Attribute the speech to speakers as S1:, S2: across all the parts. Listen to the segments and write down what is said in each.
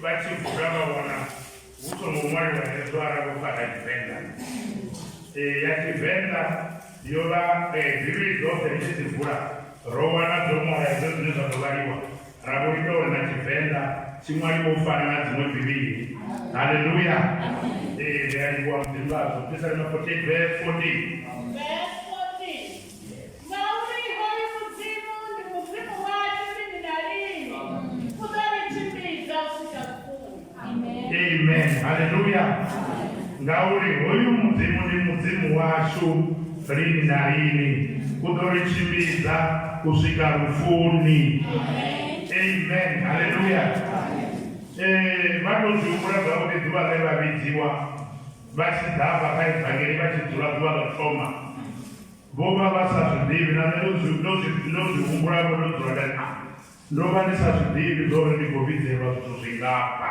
S1: vha tshi vula vha vhona hu songo ṅwaliwa hezwo arali vho fara tshivenḓa eh, ya tshivenḓa yo vha eh, bivhili dzoṱhe ri tshi dzi vula ro wana dzo ṅwala hezwo zwine zwa ḓo vhaliwa ra vho ita uri na tshivenḓa tshi ṅwaliwo u fana na dziṅwe bivhili haleluya ee eh, ri a livhuwa mudzimu vhazwo tisale ma 48 vee 14 ngauri hoyu mudzimu ndi mudzimu washu lini na lini u ḓo ri tshimbidza u swika lufuni amen haleluya um vha tou zwi humbula zwavhuḓi ḓuvha ḽe vha vhidziwa Vha tshi ḓa hafha kha Evangeli vha tshi dzula ḓuvha ḽo thoma, vho vha vha sa zwi ḓivhi, na nṋe ndo zwi humbula vho ndo dzula nda na ndo vha ndi sa zwi ḓivhi zwo uri ndi khou vhidzelwa zwithu zwingafha.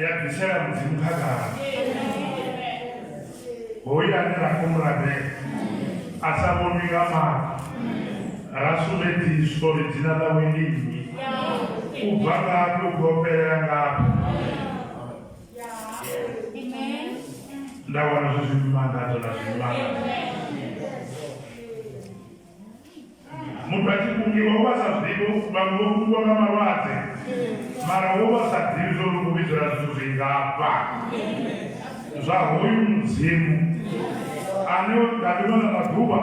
S1: ya bvisela mudzimu khagala hoyu ane ra khou muladela a sa vhonwi nga maṱo ra sumbedziswa uri dzina ḽawe ndi nnyi u bva ngafhi u khou fhelela ngafhi nda wana zwi zwi mangadzo na zwi mangadzo muthu a tshi kungiwa u vha sa ḓivhi vhaṅwe vho kungiwa nga malwadze mara wo vha sa ḓivhi zwo ri vhidzela zwithu zwingafha zwa hoyu mudzimu ane nga ḓuvha ḽa maḓuvha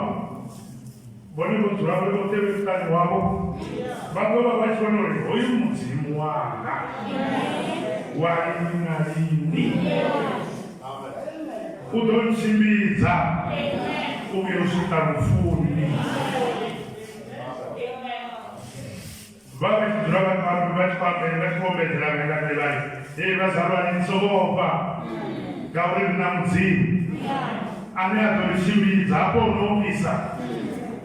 S1: vhone vho dzula vhe vho tevhe muṱani wavho vha ḓo vha vha tshi vhona uri hoyu mudzimu wanga wa lini na lini u ḓo ntshimbidza u vhuya u swika lufuni vha vhe tshi dzula vhathu vhanu vha tshi vhambele vha tshi vhombedzela vhe nga nḓila hei vhazalwane ni songo ofha ngauri ri na mudzimu ane a ḓo ri tshimbidza hafho no ofhisa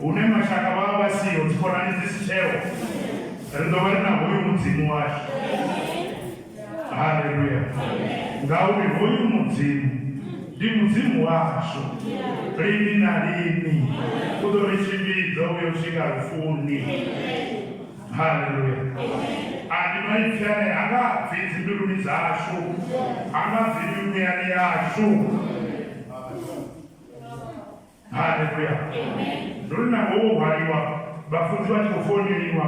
S1: hune mashaka vha vha vha siho dzikhonani dzi si tsheo ri ḓo vha ri na hoyu mudzimu washu haleluya ngauri hoyu mudzimu ndi mudzimu washu lini na lini u ḓo ri tshimbidza u yo swika lufuni haleluya andi maipfi ane ha nga bvi dzimbiluni dzashu ha nga bvi mimuyani yashu haleluya ndo ri na ngowo hwaliwa vhafunzi vha tshi khou foneliwa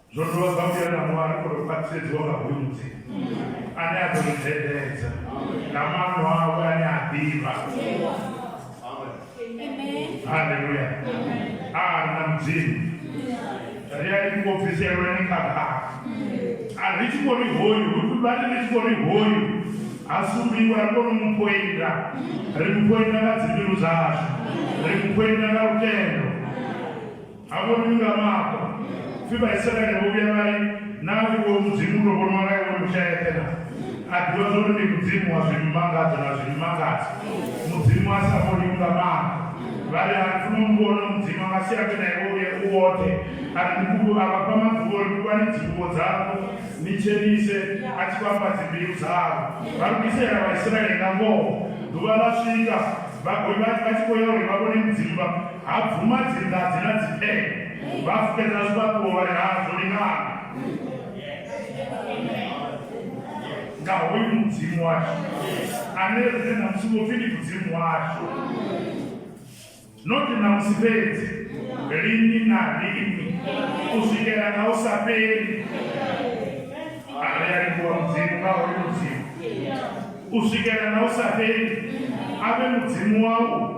S1: zwo dovha zwa vhuya na ṅwari o tou khwaṱhisedziwa nga hunzi ane a ḓo ri dzhendedza nga maano awe ane a ḓivha haleluya a ri na mudzimu ri a ri kho bviselwa ni kha kha a ri tshi khou ri hoyu vha ri ri tshi khou ri hoyu a sumbiwa ri kone mu pointa ri mu pointa nga dzimbilu dzashu ri mu pointa nga lutendo Hafho ndi nga mafho. Fi ba Israele bo bya ba ri, Na ri wo mudzimu ndo vhona wala iwe mushayeṱhe na. A ḓivha zwo ri ndi mudzimu wa zwimmangadzo na zwimmangadzo. Mudzimu a sa vhoni u nga mafho. Vha ri, A ri funa u mu vhona mudzimu a nga si ambe na iwe u ye u woṱhe. A ri, Ndi khulu, a vha fha maḓuvha uri kuvhani dzinguvho dzavho ni tshenise, a tshi vhamba dzimbilu dzavho. Vha lugisela Vhaisraele nga ngoho. Ḓuvha ḽa swika, vha vha tshi khou ya uri vha vhone mudzimu vha. Ha bvuma dzinga dzi na dzipfele vha fukedza zwifhaṱuwo vha ri hazwo ndi ngana nga hoyu mudzimu washu ane rine na musi vho pfi ndi mudzimu washu noti na musi fhedzi lini na lini u swikela nga u sa fheli ari a livhuwa mudzimu nga hoyu mudzimu u swikela nga u sa fheli a vhe mudzimu wau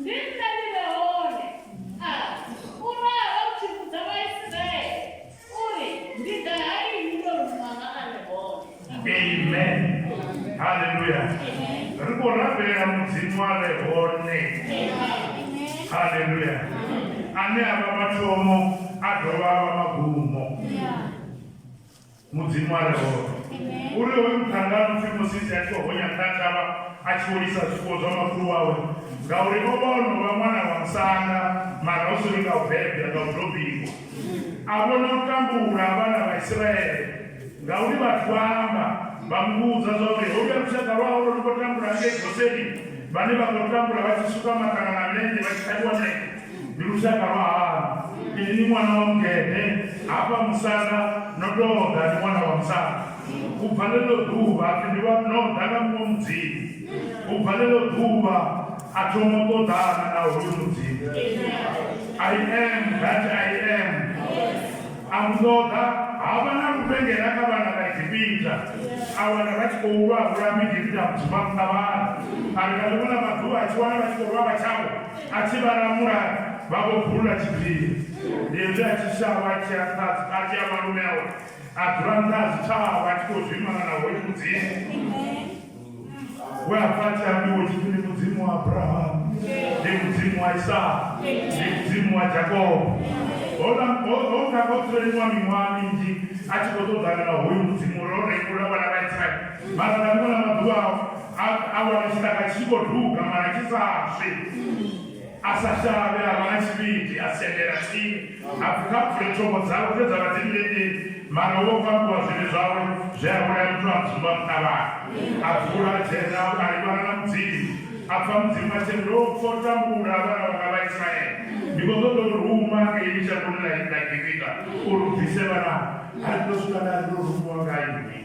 S1: Ndi nṋe ndi re hone, a u ralo, u tshi vhudza Vhaisiraele uri, Ndi ḓa ha inwi ndo ruma nga a re hone. Amen. Haleluya. Ri khou rabela Mudzimu a re hone. Haleluya. Ane a vha mathomo a dovha a vha magumo. Mudzimu a re hone. U ri hoyu muṱhannga no pfi Mosisi a tshi vho honya ṱaṱavha a tshi vho lisa zwifuwo zwa makhulu wawe, ngauri o vha o no vha ṅwana wa musanda, mara hu si ri nga u bebwa, nga u tou bikwa. A vhona u tambula ha vhana vha Isiraele, ngauri vhathu vha amba, vha mu vhudza zwa uri, Holuya lushaka lwa hau lwo no khou tambula hangei Goseni, vhane vha khou tambula vha tshi suka maṱanga na milenzhe vha tshi ṱhavhiwa milenzhe. Ndi lushaka lwa hani? Inwi ṅwana wa mugede, hafha musanda no tou ḓa, ni ṅwana wa musanda. U bva ḽeḽo ḓuvha a pfi, Ndi vha no ḓa nga muṅwe mudzimu. U bva ḽeḽo ḓuvha a thoma u ṱoḓana na hoyu mudzimu. I am that I am. A mu ṱoḓa, ha vha na luvhengela kha vhana vha Egipita. A wana vha tshi khou lwa, a vhulaha Muegipita a mu dzumba muṱavhani. A ri nga ḽiṅwe ḽa maḓuvha a tshi wana vha tshi khou lwa vha tshawe. A tshi vha lamula, vha vho bvulula tshiphiri. Ndi hezwi a tshi shavha a tshi ya nṱha a tshi ya malume awe, a dzula nṱha ha zwitshavha a tshi khou zwimana na hoyu Mudzimu we a pfa a tshi ambiwa u tshi pfi ndi Mudzimu wa Abrahamu, ndi Mudzimu wa Isaka, ndi Mudzimu wa Jakobo. Houḽa ho- ho nga ho dzuleliwa miṅwaha minzhi a tshi khou ṱoḓana na hoyu Mudzimu uri o rengula vhana vha Israele. Mara nga ḽiṅwe ḽa maḓuvha awo a a wana tshiṱaka tshi khou duga mara tshi sa swi a sa shavhe a vha na tshivhidi a sendela tsini a pfi kha bvule thongo dzawe dze dza vha dzi mmbeteni mara wo fhambiwa zwivhi zwawe zwe a vhulaya muthu a dzumba muṱavhani a bvula a dzhena a livhana na mudzimu a pfa mudzimu a tshi ri ndo pfa u tambula vhana vhanga vha isiraele ndi khou ṱoḓa u ruma ngei shangoni ḽa ḽa gibita uri u bvise vhana a ri ndo swika nda ri ndo rumiwa nga nnyi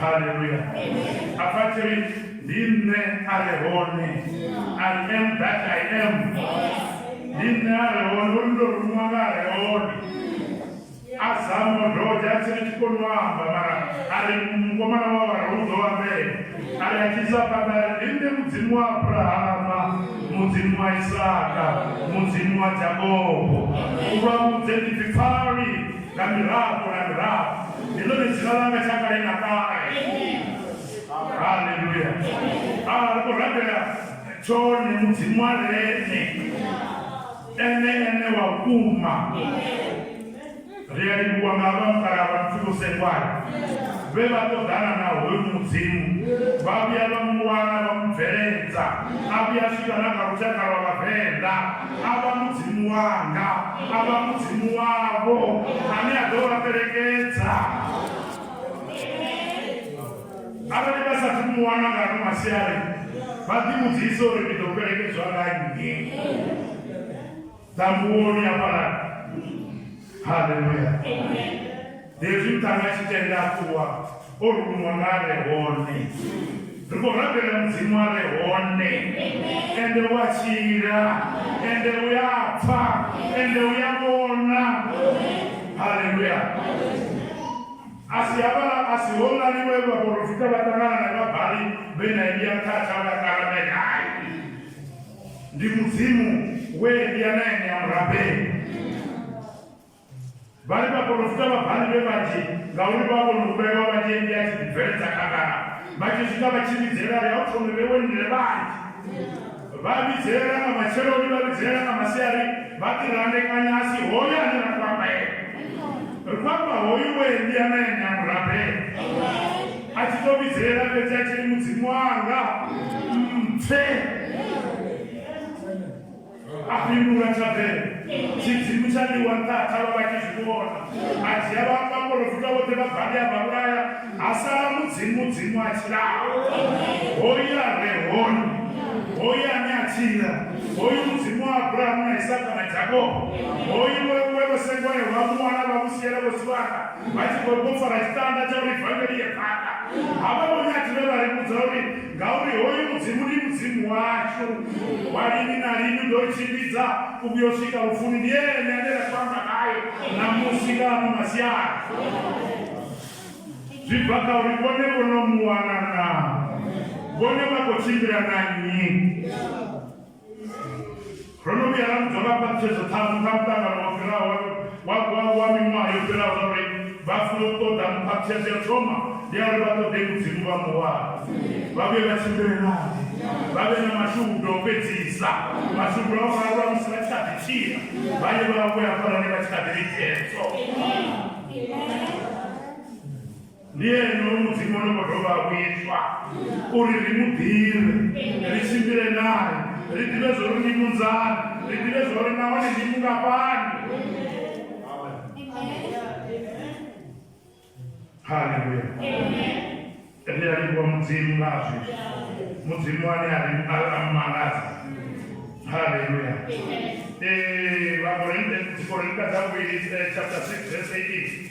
S1: haleluya apathiri ndi nṋe a re hone i am that i am ndi nṋe a re hone uri ndo rumiwa nga a re hone a zamo doja a tsiri tshi koni u amba mara a ri mukomana wa wara u ḓo ambela a ri a tshisa phanḓa a ri ndi nṋe mudzimu wa abrahama mudzimu wa isaka mudzimu wa jakobo u vha vhudze ndi pfipfali nga mirafho na mirafho Ndi ḽone dzina ḽanga tsha kale na kale. Haleluya. A ri khou rabela tshone mudzimu wa lene ene ene wa vhukuma ri a livhuwa nga vha mukalaha vha muthu vhosengwana vhe vha ṱoḓana na hoyu mudzimu vha vhuya vha mu wana vha mu bveledza a vhuya swika na kha lushaka lwa vhavenḓa a vha Mudzimu wanga, a vha Mudzimu wavho, ane a ḓo vha fhelekedza. Arali vha sa mu wana nga ano masiari vha ḓivhudzise uri ndi ḓo fhelekedzwa nga nnyi ḓamboni ya fhalani haleluya hezwi muṱani a tshi tenda a ṱuwa o ruṅwa nga a re hone ri khou rabela mudzimu a re hone ende u a tshila ende u ya pfa ende u ya vhona haleluya a si havhala a si holani vhe vhaporofita vha ṱangana na vhabali vhe na eliya mthatha vha karamele hai ndi mudzimu we ndi anaye ni amurabeli vhali vhaporofita vha bhali vhe vhanzhi ngauri vha vhona u vhewa vhanzhi ndi a tshi ḓibveledza khagala vha tshi swika vha tshi vhidzelela ya u thome vhewe ni re vhanzhi vha vhidzelela nga matsheloni vha vhidzelela nga masiari vha ḓi randekanya a si hoyo ane ra kwambaela ri kwamba hoyu we ndi anaye ni amurabeli a tshi to vhidzelela fhedzi a tshiri mudzimu wanga mpfe a fhindula tshabele tshidzimu tsha liwa nṱatha vha vha tshi zwi vhona a dzhia vhaporofita vhoṱhe vha bali a vha vhulaya ha sala mudzimu dzimu a tshilaho hoya re hone hoya ane a tshila hoyu mudzimu wa abrahamu na isaka na jakobo hoyu wewe vho sengoyo vha muwana vha musiela vho siwana vha tshi khou tou fara tshitanda tsha uri vangeli ye phanḓa ha vha vhone a thivhe vha ri vhudza uri ngauri hoyu mudzimu ndi mudzimu washu wa lini na lini ndo tshimbidza u vhuya u swika lufuni ndi ene ane ra famba nayo na musi nga ano masiara zwi bva kha uri vhone vho no mu wana na vhone vha khou tshimbila na nnyi Ro no vhuya ra vhudzwa nga phaṱhutshedzo ṱhanu kha muṱangano wo fhiraho wa wa miṅwaha yo fhiraho zwa uri vha funa u ṱoḓa mphaṱhutshedzo ya thoma ndi ya uri vha ṱoḓe mudzimu vha muwana vha vhuye vha tshimbile nae vha vhe na mashudu o fhedzisa mashudu a vhuraru vha musi vha tshi kha ḓi tshila vha ye vha vhuya fhalani vha tshi kha ḓi ri ndi ene oyo mudzimu o no khou dovha a vhuiswa uri ri mu ḓivhe ri tshimbile naye ri ḓivhe zwo ri ndi munzani ri ḓivhe zwo ri nahone ndi mungafhani haleluya ri a livhuwa mudzimu nga zwezwi mudzimu ane a ri mangadza haleluya ee eh, vakorinte dzikorinte dza vhuvhili eh, chapter 6 verse 18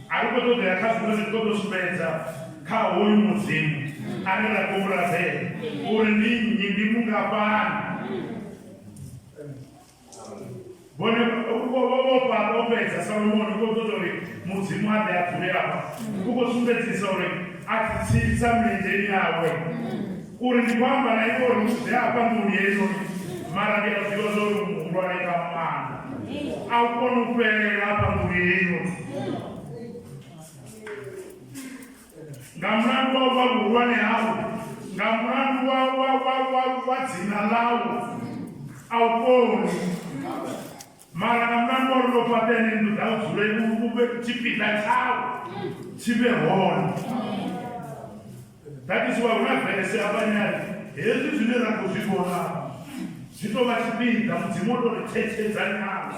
S1: A ri khou ṱoḓea kha zwiṅwe zwithu, ro tou sumbedza kha hoyu Mudzimu a re ra khou razela uri ndi nnyi, ndi mungafhani. Vhone vho fhedza Salomoni u khou ṱoḓa uri Mudzimu a ḓe a dzule afha, u khou sumbedzisa uri a ḓitsitsa milenzheni yawe. Uri ndi khou amba na iwe uri zwi ḓe afha nḓuni heinoni, mara ndi a zwi ḓivha zwa uri u muhulwane nga maanḓa. A u koni u fhelela afha nḓuni heinoni. Nga mulandu wa u vha vhuhulwane hau, nga mulandu wa wa wa wa wa dzina ḽau, a u koni. Mara nga mulandu wa uri ndo fhaṱa ene nnḓu dza u dzule u vhe tshipiḓa tshawe tshi vhe hone that is why hu na vese avhanyari hezwi zwine ra khou zwi vhona zwi tou vha tshipiḓa mudzimu o tou ri thetshedzanyana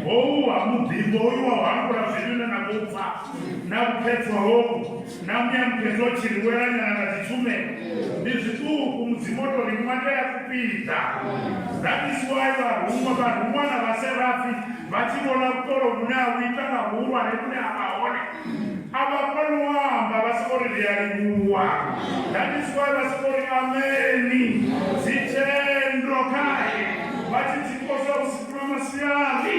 S1: howu ha muḓingo hoyu wa u hangula zwivhine na khou pfa na vhukhethwa howu Nambuya Mupendotiri welanyana nga dzitsume ndi zwiṱuku mudzimotori muṅwe tea kupinda that is why vharuṅwa vharuṅwa na vhaserafi vha tshi vhona vhukolo vhune a vhuita nga vhuhulwane vhune a vha hone a vha koni u amba vha soko ri ri a livhuwa that is why vha soko ri ameni dzitendo khae vha tshi dzi kosa usiku na masiari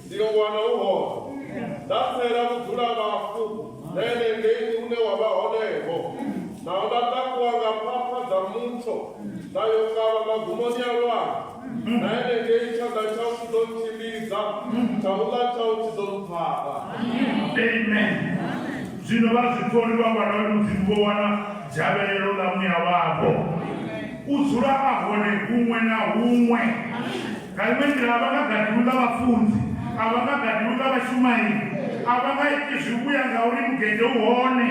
S2: Ndi yo wana u hone. Nda tsela vhudzulabafhu nene ngei une wa vha honeho, naho nda takuwa nga phapha dza mutsho nda yo kavha magumoni a lwanzhe, na henengei tshanḓa tshau tshi ḓo ntshimbidza, tshaula tshau tshi ḓo mphaṱa.
S1: Amen. Zwino vhazwiṱori vha Vhana vha Mudzimu vho wana dzhavhelelo ḽa muya wavho u dzula a hone huṅwe na huṅwe. Nga iṅwe nḓila, a vha nga gadi u ḽa vhafunzi, a vha nga gadi u ḽa vhashumaeli, a vha nga iti zwivhuya ngauri mugede u hone,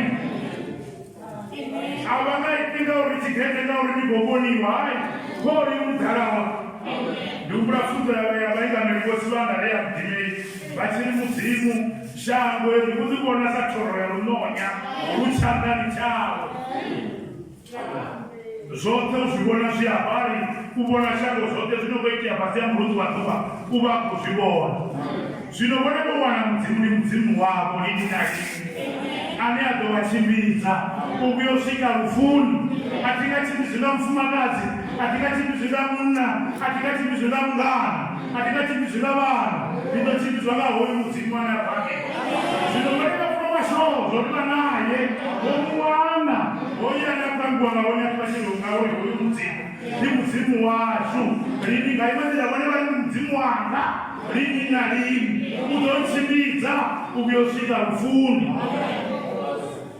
S1: a vha nga iti ngauri tshigede ngauri ni khou vhoniwa. Hai, vho ri u ḓala wa. Ndi humbula pfunzo ya vhaya vhaingameli vhotsi vha nga rea vhudimeli vha tshi ri, Mudzimu, shango heḽi u ḽi vhona sa thoro ya luṋonya lu tshanḓani tshau. zwoṱhe u zwi vhona zwi havhali u vhona shango zwoṱhe zwino khou itea fhasi ya murunzi wa ḓuvha u vha khou zwi vhona zwino vhone vho wana mudzimu ndi mudzimu wavho lini na lini ane a ḓo vha tshimbidza u vhuya u swika lufuni a thi nga tshimbidzi nga mufumakadzi a thi nga tshimbidzi nga munna a thi nga tshimbidzi nga mungana a ndi nga tshimbidzwi nga vhana ndi ḓo tshimbidzwa nga hoyu mudzimu ane a bake zwino vhane vha funa mashoho zwo ri vha naye vho mu wana hoyu ane a khou ambiwa nga hone athu vhatshelo ngauri hoyu mudzimu ndi mudzimu washu lini nga iwe nḓila vhone vha ndi mudzimu wanga lini na lini u ḓo ntshimbidza u vhuyo swika lufuni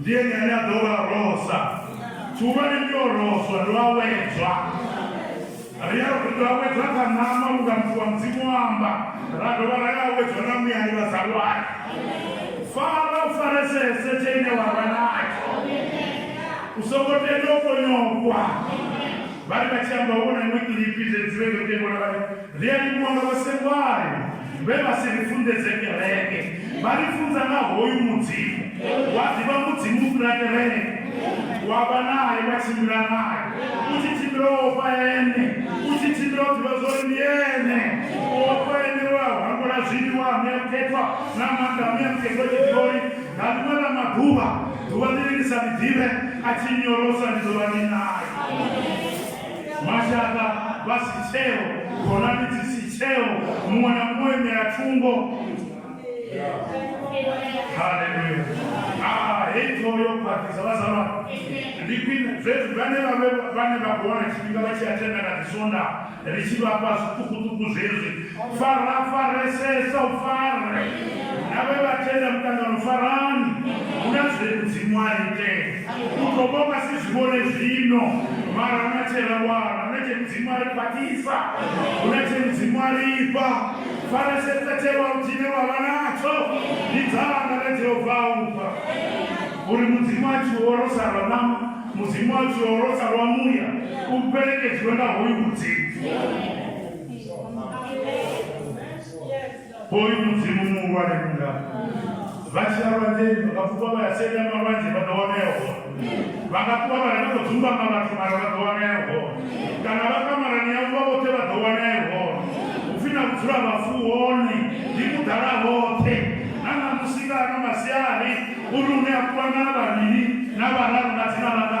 S1: Ndi ene ane a ḓo vha rosa. Tshihulwane ndi o roswa, ndi a wedzwa. Ri a ri a wedzwa kha ṋama unga muthu wa Mudzimu o amba, ra dovha ra ya wedzwa na muyani vhazalwane. Fara u faresese tshe ine wa vha natsho. U songo tenda u fonyokwa. Vhari vha tshi amba wo na iwe kilipi dze dzi vhe nga tengwa na vhari Ri a livhuwa nga vhasengwayo vhe vha si ri funḓedze kereke, vha ri funza nga hoyu Mudzimu. Wa ḓivha Mudzimu u fhira kereke, wa vha nae, wa tshimbila nae, u tshi tshimbila wo ofha Ene, u tshi tshimbila u ḓivha zwa uri ndi Ene. U ofha Ene we a hangula zwiliwa a ṋea mukhethwa na maanḓa a ṋea mukhethwa tshi ḓivha uri nga ḽiṅwe ḽa maḓuvha ḓuvha ḽine ndi sa ḽi ḓivhe a tshi nyorosa ndi ḓo vha ndi nae. mashaka vha si tsheo khonani dzi si tsheo muṅwe na muṅwe imela thungo haleluya aa hei ṱhoho yo khwaṱhisa vhazalwa ndi khwine zwezwi vhane vhae vhane vha khou wana tshifhinga vha tshi a tenda nga ḓisonda ri tshi vhafha zwiṱukuṱuku zwezwi fara faresesa u fare na vhe vha tenda muṱangano farani hu na zwe mudzimu a itela U ḓo vha u nga si zwi vhone zwino, mara hu na tshe ra wana, hu na tshe Mudzimu a ri khwaṱhisa, hu na tshe Mudzimu a ri fha. Pfaresedza tshewau tshine wa vha natsho, ndi dzanga ḽe Jehova a u fha. Uri Mudzimu a tshi u orosa lwa ṋama, Mudzimu a tshi u orosa lwa muya, u fhelekedziwe nga hoyu Mudzimu. Hoyu mudzimu muhulwane kunga vha tshi ya lwanzeni vha nga pfuka vha ya senya malwadze vha ḓo wana ya hone vha nga ṱuwa vha renga ḓo dzumbama vhathu mara vha ḓo wana ya hone kana vha kamarani yavho vha vhoṱhe vha ḓo wana ya hone upfi na vhudzula vhafu hone ndi mudala hoṱhe na ṋamusi nga ano masiari uri une a kuvhangana vhavhili na vhararu nga dzina langa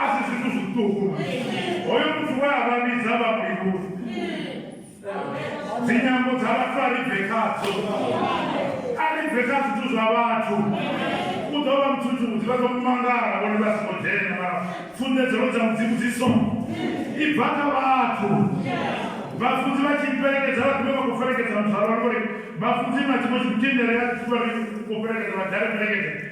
S1: a si zwithu zwiṱuku hoyo muthu we a vha vhidza vha mulivhuzi dzinyambo dza vhathu a ri bve khadzo a ri bve kha zwithu zwa vhathu u ḓo vha muthuthi u ḓivha ḓo mangala vhone vha songo dzhena mara funḓedzelo dza mudzimu dzi so i bva kha vhathu vhafunzi vha tshi fhelekedza vha ḓivhe vha khou fhelekedza muthu a vha uri vhafunzi na tshiṅwe tshithu tshi ndelea tshi vha ri u fhelekedza vha dale fhelekedza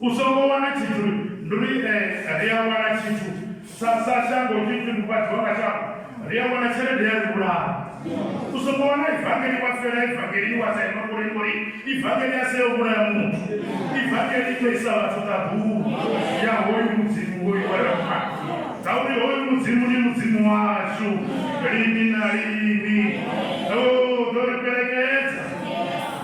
S1: U songo wana tshithu, ndi uri eh, ri a wana tshithu sa sa shango tshi tshi vhufhadziwa nga shango, ri a wana tshelede ya ri vhulaha. U songo wana ivangeli wa fela ivangeli wa sa ima kule ngori ivangeli a seo vhulaya muthu. Ivangeli to isa vhathu ṱaḓulu ya hoyu mudzimu hoyu wa rafa. Dza uri hoyu mudzimu ndi mudzimu washu lini na lini. Oh, ḓo ri fhelekedza.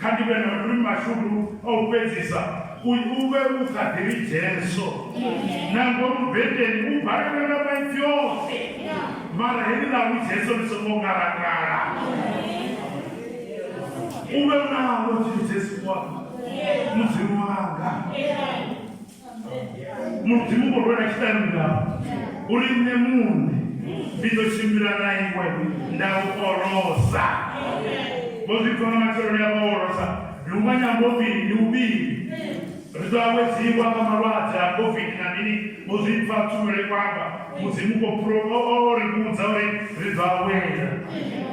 S1: Kha ndi vhe na maluvhi mashudu a u fhedzisa, u u vhe u sa ḓivhi Jesu. Na ngomu bendeni u balelwe nga maipfi oṱhe, mara heḽi ḽa u Jesu ḽi songo ngalangala. U vhe u nawo Jesu wa mudzimu wanga. mudzimu vho rwela tshiṱaluka uri nṋe muṋe ndi ḓo tshimbila na iwe nda u orosa vho zwi pfa nga matsheloni a vha orosa ndi u manya mbovili ndi uvhili ri ḓo awedziwa nga malwadze a covid na mini vho zwi pfa tshumelo ikwamba mudzimu ko pro o ri vhudza uri ri ḓo awela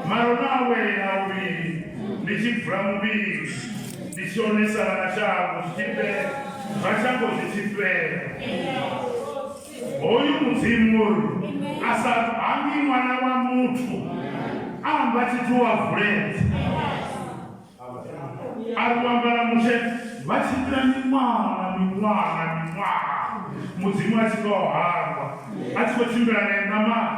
S1: mara no awela uvhili ndi tshi bvula muvhili Ndi shonisa na shango zwi tshi fhela, na shango zwi tshi fhela. Hoyu Mudzimu uri a sa hangi ṅwana wa muthu a amba tshithu wa vuledza. A ri wamba na Mushe vha tshimbila miṅwaha na miṅwaha na miṅwaha Mudzimu a tshi khou hangwa a tshi khou tshimbila nae ṋamani.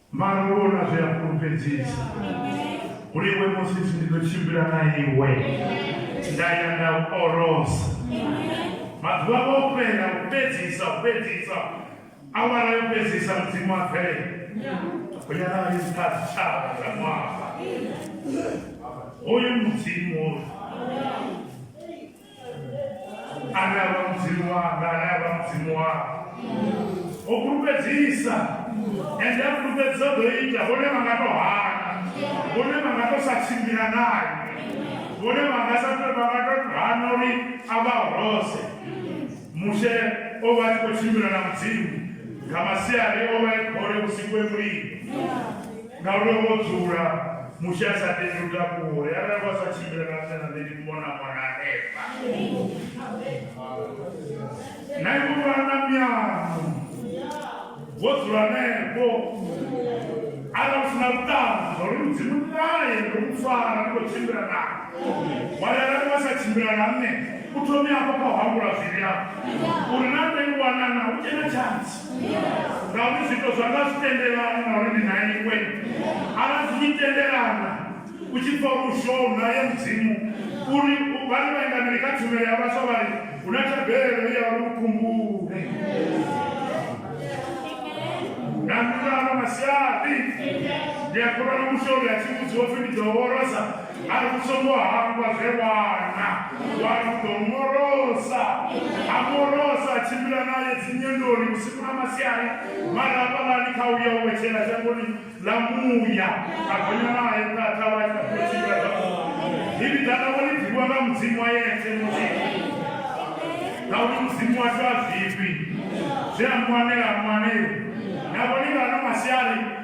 S1: Mara u vhona zwi a fhulufhedzisa uri iwe musisi ndi ḓo tshimbila na iwe nda ya nda u orosa maḓuvha vho fhela u fhedzisa u fhedzisa awara yo fhedzisa mudzimu a bvelela u ya na lisa tshitshavha dza ṅwaha hoyu mudzimu ane a vha mudzimu wanga ane a vha mudzimu wanga o fhulufhedzisa ende a fhulufhedzisa ḓo ita vhone vha nga to hana vhone vha nga to sa tshimbila naye vhone vha nga sa vha nga to hana uri a vha horose mushe o vha tshi khou tshimbila na mudzimu nga masiari o vha e khole vhusiku e mulilo Nga uri o vha o dzula, Mushe a sa tendi u takuwa, uri arali wa sa tshimbila na nṋe na nṋe ndi mona mona hanefha. Na iwe vhana mianu vho dzula hanefho arali u sina vhuṱanzi zwa uri mudzimu naye ndo mu fara ndi khou tshimbila na wari arali wa sa tshimbila na nṋe u thome afho kha u hangula zwivhi afho uri na nṋe i wanana u tshena tshantsi ngauri zwito zwanga zwi tendelana na uri ndi na iwe arali zwi tshi tendelana u tshi pfa uri ushow naye mudzimu uri vhane vhaingameli kha tshumelo ya vhaswa vha ri hu na thabelo ya uri u khumbule na nḓilano masiaḓi ndi a khulwana mushouri a tshi vhudziwa pfi ndi ḓo worosa a ri u songo hangwa zwe wana wa ri u ḓo morosa a morosa a tshimbila naye dzinyendoni vhusiku na masiari mara hafhalani kha uya u wetshela shangoni ḽa muya a gonya naye nṱaṱa wa ita khou tshimbila zwavhuḓi ivi dala wo ni ḓivhiwa nga mudzimu wa yetse mudzimu ngauri mudzimu washu a zwifhi zwe a mwanela mwaneo navho ni vhano masiari